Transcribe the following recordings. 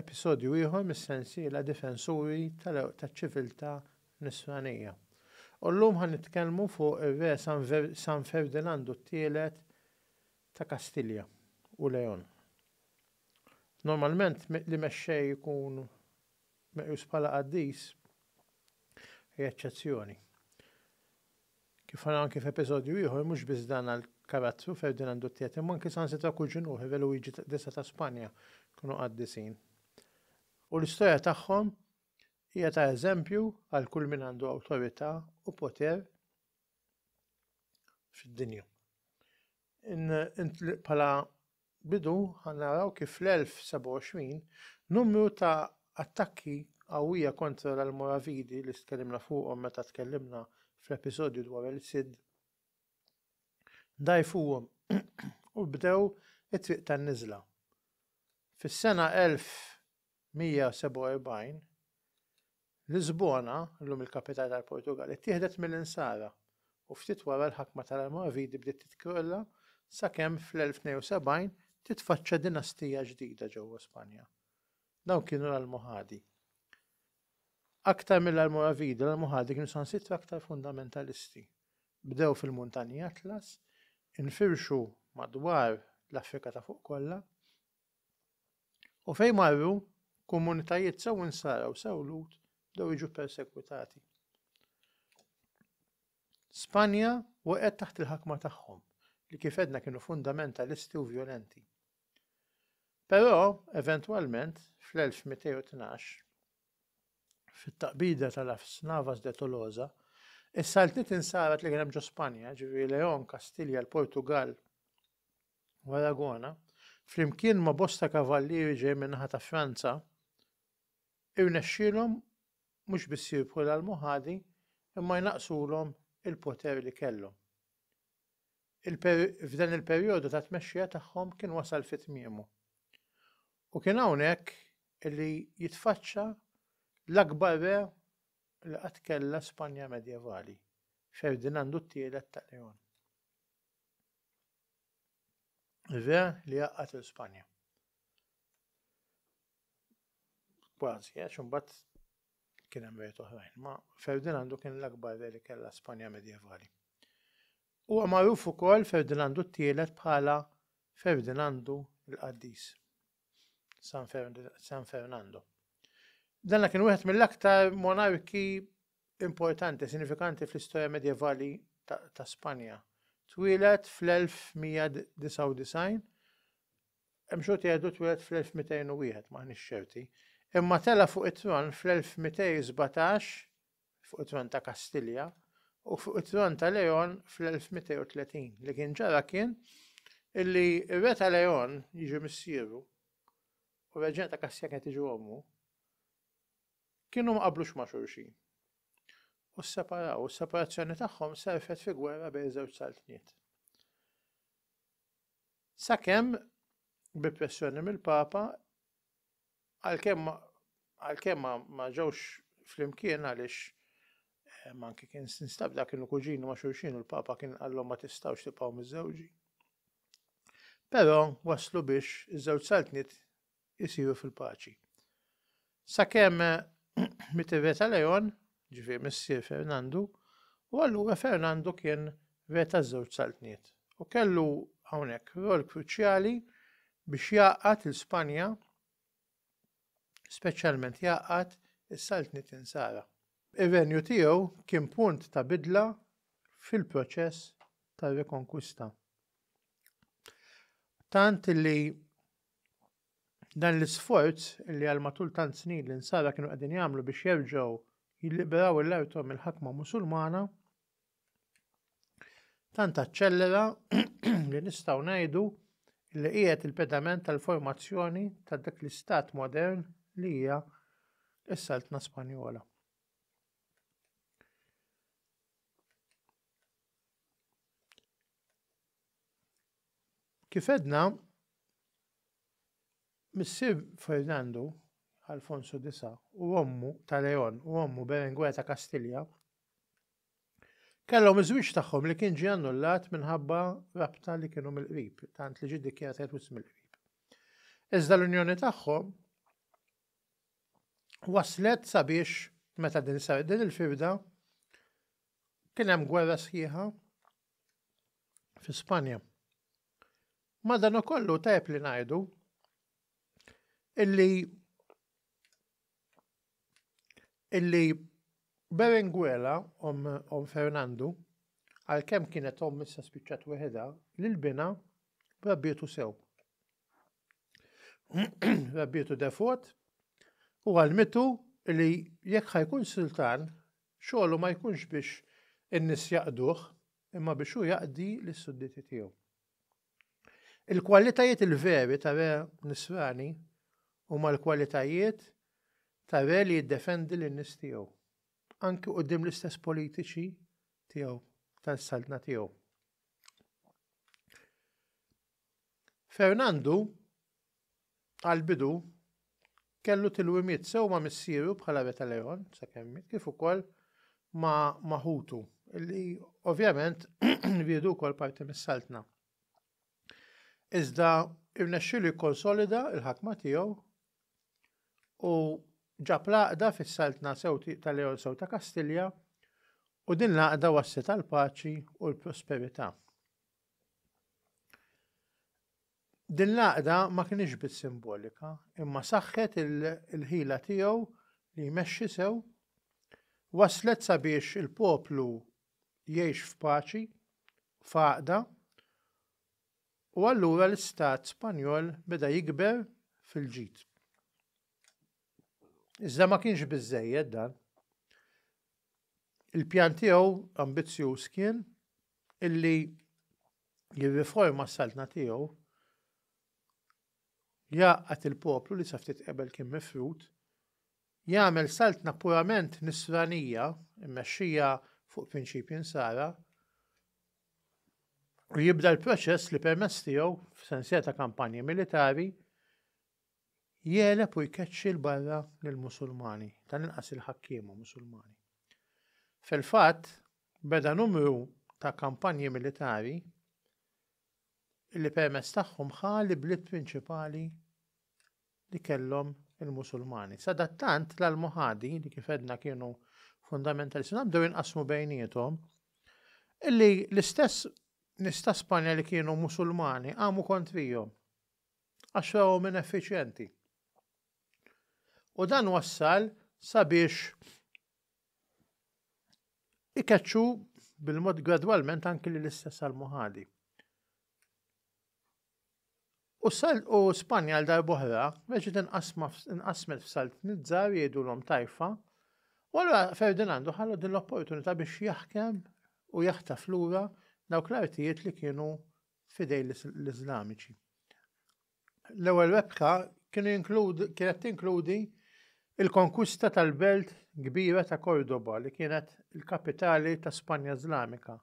Episodju ieħor mis-sensiela Difensuri taċ-Ċiviltà Nisranija. U llum ħa nitkellmu fuq ir-Re San Ferdinandu t-Tielet ta' Kastilja u Leon. Normalment li mexxej ikun meqjus bħala qaddis hija eċċezzjoni. Kif ħa anki f'episodju ieħor, mhux biss dan għall-karattru Ferdinandu t-Tielet imma anki saħansitra kull ġunur ħirew Luigi Disa ta' Spanja kienu qaddisin. U l-istorja tagħhom hija ta' eżempju għal kull min għandu awtorità u poter fid-dinja. Bħala bidu ħa naraw kif fl-1027 numru ta' attakki qawwija kontra l-Almoravidi li tkellimna fuqhom meta tkellimna fl-episodju dwar il-Cid dgħajfuhom u bdew it-triq tan-niżla. Fis-sena 1147 Lisbona, llum il-kapitali tal-Portugall, ittieħdet mill-Insara u ftit wara l-ħakma tal-Almoravidi bdiet titkrolla sakemm fl-1072 titfaċċa dinastija ġdida ġewwa Spanja. Dawn kienu l-Almohadi. Aktar mill-Almoravidi, l-Almohadi kienu sansitra aktar fundamentalisti. Bdew fil-Muntanji Atlas, infirxu madwar l-Afrika ta' fuq kollha, U fejn marru, komunitajiet sew insara u sew lut bdew jiġu persekwitati. Spanja waqgħet taħt il-ħakma tagħhom li kif edna kienu fundamentalisti u vjolenti. Però, eventwalment, fl-1212, fit-taqbida tal-Afs Navas de Tolosa, is-saltniet insarat li kien hemm ġo Spanja, ġifieri Leon, Kastilja, l-Portugal, u Aragona, flimkien ma' bosta kavallieri ġej min-naħa ta' Franza, irnexxielhom mhux biss jirbħu l-Almohadi imma jnaqqsulhom il-poter li kellhom. F'dan il-perjodu ta' tmexxija tagħhom kien wasal fi tmiemu. U kien hawnhekk li jitfaċċa l-akbar re li qatt kellha Spanja medjevali, Ferdinandu t-Tielet ta' Leon. Re li għaqqat il Spanja. Kważi, għax imbagħad kien hemm rejt oħrajn, ma Ferdinandu kien l-akbar re li kellha Spanja medjevali. Huwa magħruf ukoll Ferdinandu t-tielet bħala Ferdinandu l-Qaddis. San, Fernando. Danna kien wieħed mill-aktar monarki importanti, sinifikanti fl-istorja medjevali ta' Spanja. Twieled fl-1199, hemm xogħol jgħidu twieled fl-1201, m'aħniex ċerti, imma tela' fuq it-tron fl-1217 fuq it-tron ta' Kastilja u fuq it-tron ta' Leon fl-1230. Li kien ġara kien illi r-re ta' Leon jiġi missieru u reġina ta' Kastilja kienet tiġi ommu Kienu ma qablux ma' xulxin. U sseparaw, u s-separazzjoni tagħhom serfet fi gwerra bejn żewġ saltniet. Sakemm bi pressjoni mill-Papa għalkemm għalkemm ma ġewx flimkien għaliex eh, manki kien sinstab dak kienu kuġini ma' xulxin u l-Papa kien qallhom ma tistgħux tibqgħu miżewġi. Però waslu biex iż-żewġ saltniet isiru fil-paċi. Sakemm miet ir-re ta' Leon, ġifieri missier Fernandu, u allura Fernandu kien re taż-żewġ saltniet u kellu hawnhekk rwol kruċjali biex jgħaqqad lil Spanja, speċjalment jgħaqqad is-saltniet Insara. Ir-renju tiegħu kien punt ta' bidla fil-proċess tar-rikonkwista. Tant li Dan l-isforz li għal matul tant snin l-insara kienu qegħdin jagħmlu biex jerġgħu jilliberaw il-artom mill-ħakma Musulmana tant aċċellera li nistgħu ngħidu li qiegħed il-pedament tal-formazzjoni ta' dak l-istat modern li hija s-Saltna Spanjola. Kif għedna, missier Fernando, Alfonso Disa, u ommu ta' Leon u ommu Berengwea ta' Kastilja, kellhom iż-żwieġ tagħhom li kien ġie annullat minħabba rabta li kienu mill-qrib, tant li ġie ddikjarat qed wisq mill-qrib. Iżda l-unjoni tagħhom waslet sabiex meta din sar din il-firda kien hemm gwerra sħiħa fi Spanja. Madanakollu tajb li ngħidu illi illi Berenguela om, om Fernandu għalkemm kienet om issa spiċċat weħeda li l-bina rabbietu sew. rabbietu defot u għalmitu li jekk ħajkun sultan Xogħlu ma jkunx biex in-nies jaqduh, imma biex hu jaqdi lis-sudditi tiegħu. Il-kwalitajiet il-veri ta' re Nisrani huma l-kwalitajiet ta' re li jiddefendi lin-nies tiegħu, anki quddiem l-istess politiċi tiegħu tal-saltna tiegħu. Fernandu Għall-bidu, kellu tilwimiet sew ma' missieru bħala re ta' Leon, sakemm miet, kif ukoll ma' ma' ħutu, li ovvjament riedu wkoll parti mis-saltna. Iżda rnexxielu jikkonsolida l-ħakma tiegħu u ġab l-għaqda fis-saltna sew ta' Leon sew ta' Kastilja u din l-għaqda wasslet għall-paċi u l-prosperità. Din l-għaqda ma kinitx biss simbolika, imma saħħet il-ħila tiegħu li jmexxi sew, wasslet sabiex il-poplu jgħix f'paċi, f'għaqda, u allura l-istat Spanjol beda jikber fil-ġid. Iżda ma kienx biżżejjed dan. Il-pjan tiegħu ambizzjuż kien illi jirriforma s-saltna tiegħu, jgħaqqad il-poplu li sa ftit qabel kien mifrud, jagħmel saltna purament nisranija, immexxija fuq prinċipji nsara, u jibda l-proċess li permess tiegħu f'sensija ta' kampanji militari jeleb u jkeċċi l-barra lill-Musulmani, tal-inqas il-ħakkiema Musulmani. Fil-fatt, Beda numru ta' kampanji militari li permezz tagħhom ħa l-ibliet prinċipali li kellhom il-Musulmani. Sadattant, l-Almohadi, li kif għedna kienu fundamentalisti, nabdew jinqasmu bejniethom illi l-istess nies ta' Spanja li kienu Musulmani qamu kontrihom għax rawhom ineffiċjenti. U dan wassal sabiex ikeċċu bil-mod gradwalment anki li l-istess għal-muħadi. U sal u Spanja għal darbohra, reġit inqasmet f'salt nizzar jgħidu l-om tajfa, u għallura Ferdinandu ħallu din l-opportunità biex jaħkem u jaħtaf lura dawk l-artijiet li kienu fidej l-Islamiċi. L-ewwel rebħa kienet tinkludi l-konkwista tal-belt kbira ta' Córdoba li kienet il-kapitali ta' Spanja Iżlamika.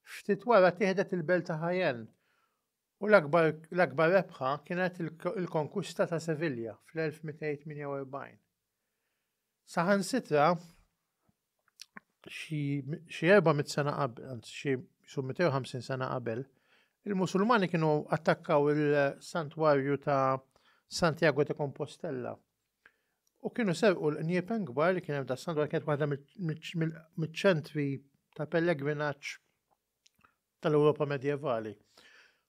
Ftit wara tieħdet il-belt ta' Jaén, u l-akbar rebħa kienet il-konkwista ta' Sevilla fl-1248. Saħansitra xi 400 sena qabel, anzi xi 250 sena qabel, il-Musulmani kienu attakkaw il-santwarju ta' Santiago de Compostella. U kienu serqu l-qniepen kbar li kien hemm da' santwarju kienet waħda mill-ċentri ta' pellegrinaġġ tal-Ewropa medjevali.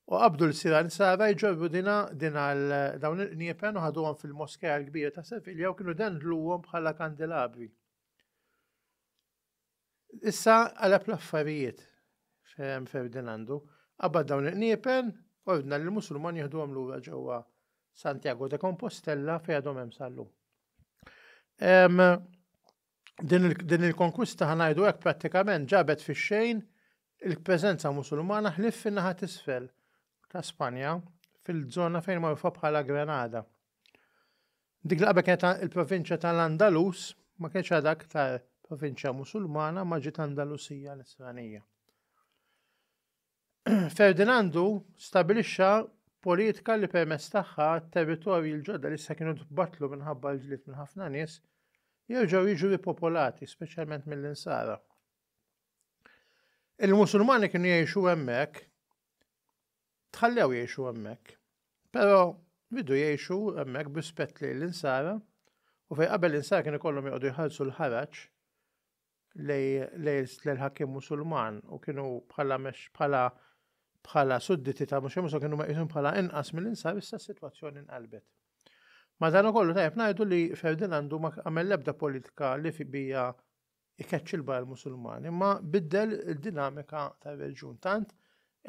U qabdu l-sira nsara jġorru dina din għal dawn il-qniepen u ħaduhom fil-moskeja l-kbira ta' Sevilja u kienu dendluhom bħala kandelabri. Issa għalab l-affarijiet Ferdinandu, qabad dawn il-qniepen, ordna li l-Musulman jieħdu għam lura ġewwa Santiago de Compostella fejn għadhom hemm sallu. Din il-konkwista ħanajdu hekk prattikament ġabet fix-xejn il-preżenza Musulmana ħlif fin-naħa tisfel ta' Spanja fil-żona fejn magħrufa bħala Granada. Dik li qabel kienet il-provinċja tal-Andalus ma kienx għadha aktar provinċja Musulmana ma ġiet Andalusija Nisranija. Ferdinandu stabilixxa politika li permess tagħha territorji l-ġodda li sa kienu tbatlu minħabba l-ġlied minn ħafna nies jerġgħu jiġu ripopolati, speċjalment mill-insara. Il-Musulmani kienu jgħixu hemmhekk Tħallew jgħixu hemmhekk. Però bidu jgħixu hemmhekk b'rispett lejn l-insara u fejn qabel l-insara kien ikollhom joqogħdu jħallsu l-ħaraġ lejn ħakkim musulman u kienu bħala bħala bħala sudditi ta' mhux musulman kienu meqisum bħala inqas mill-insar issa s-sitwazzjoni nqalbet. Ma dan ukollu tajjeb ngħidu li Ferdinandu ma għamel l-ebda politika li fi bija ikeċċi l-barra l-Musulmani, imma biddel id-dinamika tar-reġjun tant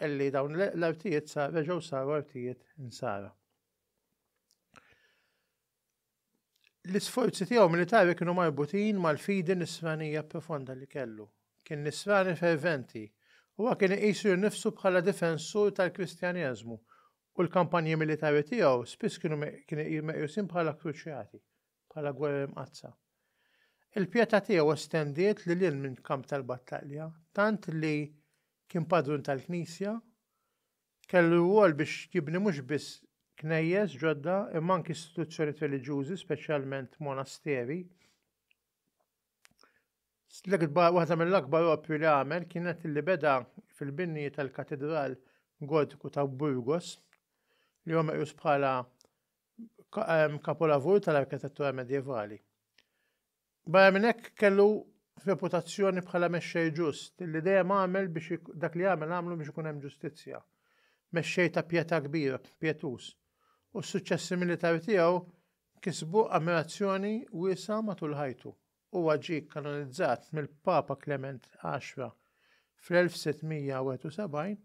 illi dawn l-artijiet sa reġgħu saru artijiet insara. L-isforzi tiegħu militari kienu marbutin mal-fidi nisranija profonda li kellu. Kien nisrani ferventi u huwa kien iqisu nifsu bħala difensur tal-Kristjaneżmu u l-kampanji militari tiegħu spiss kienu meqjusin bħala kruċjati bħala gwerer imqaddsa. Il-pjetà tiegħu estendiet lil hinn minn kamp tal-battalja, tant li kien padrun tal-Knisja, kellu rwol biex jibni mhux biss knejjes ġodda imma anki istituzzjonijiet reliġjużi, speċjalment monasteri. L-ikbar waħda mill-akbar opri li għamel kienet li beda fil-binji tal-Katedral Gortiku ta' Burgos li huwa meqjus bħala kapolavur tal-arkitettura medjevali. Barra minn hekk kellu reputazzjoni bħala mexxej ġust li dejjem għamel biex dak li għamel għamlu biex ikun hemm ġustizzja. Mexxej ta' pjeta kbira, pjetuż, u s-suċċessi militari tiegħu kisbu ammirazzjoni wiesa' matul ħajtu. Huwa ġie kkanonizzat mill-Papa Klement Għaxra fl-1671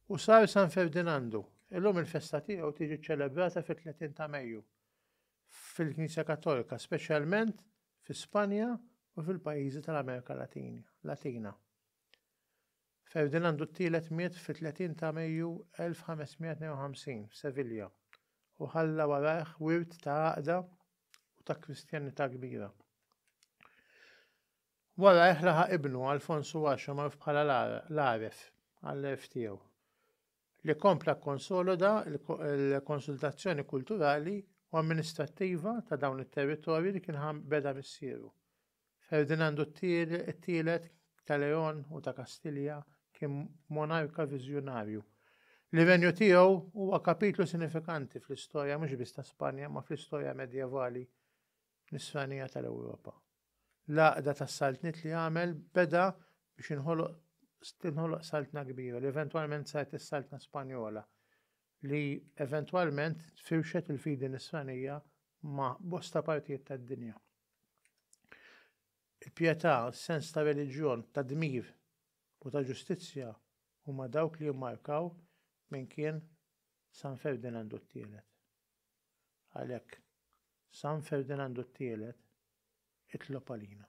u sar San Ferdinandu. Illum il-festa tiegħu tiġi ċċelebrata fit-30 ta' Mejju fil-Knisja Kattolika, speċjalment fi Spanja u fil-pajjiżi tal-Amerika Latina. Ferdinandu t-Tielet miet fit-30 ta' Mejju 1552 f'Sevilja u ħalla warajh wirt ta' għaqda u ta' Kristjanità kbira. Warajh laħaq ibnu Alfonsu Għaxra magħruf bħala l-Għaref għall-għerf tiegħu, li kompla kkonsoloda l-konsultazzjoni kulturali u amministrattiva ta' dawn it-territorji li kien beda missieru. Ferdinandu t-Tielet ta' Leon u ta' Kastilja kien monarka viżjonarju. L-irenju tiegħu huwa kapitlu sinifikanti fl-istorja mhux biss ta' Spanja imma fl-istorja medjevali Nisranija tal-Ewropa. L-għaqda tas-saltniet li għamel beda biex inħoloq tinħoloq saltna kbira li eventwalment saret is-Saltna Spanjola li eventwalment firxet il-fidi Nisranija ma' bosta partijiet tad-dinja. Il-pietà, sens ta' reliġjon, ta' dmir u ta' ġustizzja huma dawk li jimmarkaw min kien San Ferdinandu t-Tielet. Għalhekk, San Ferdinandu t-Tielet, itlob għalina.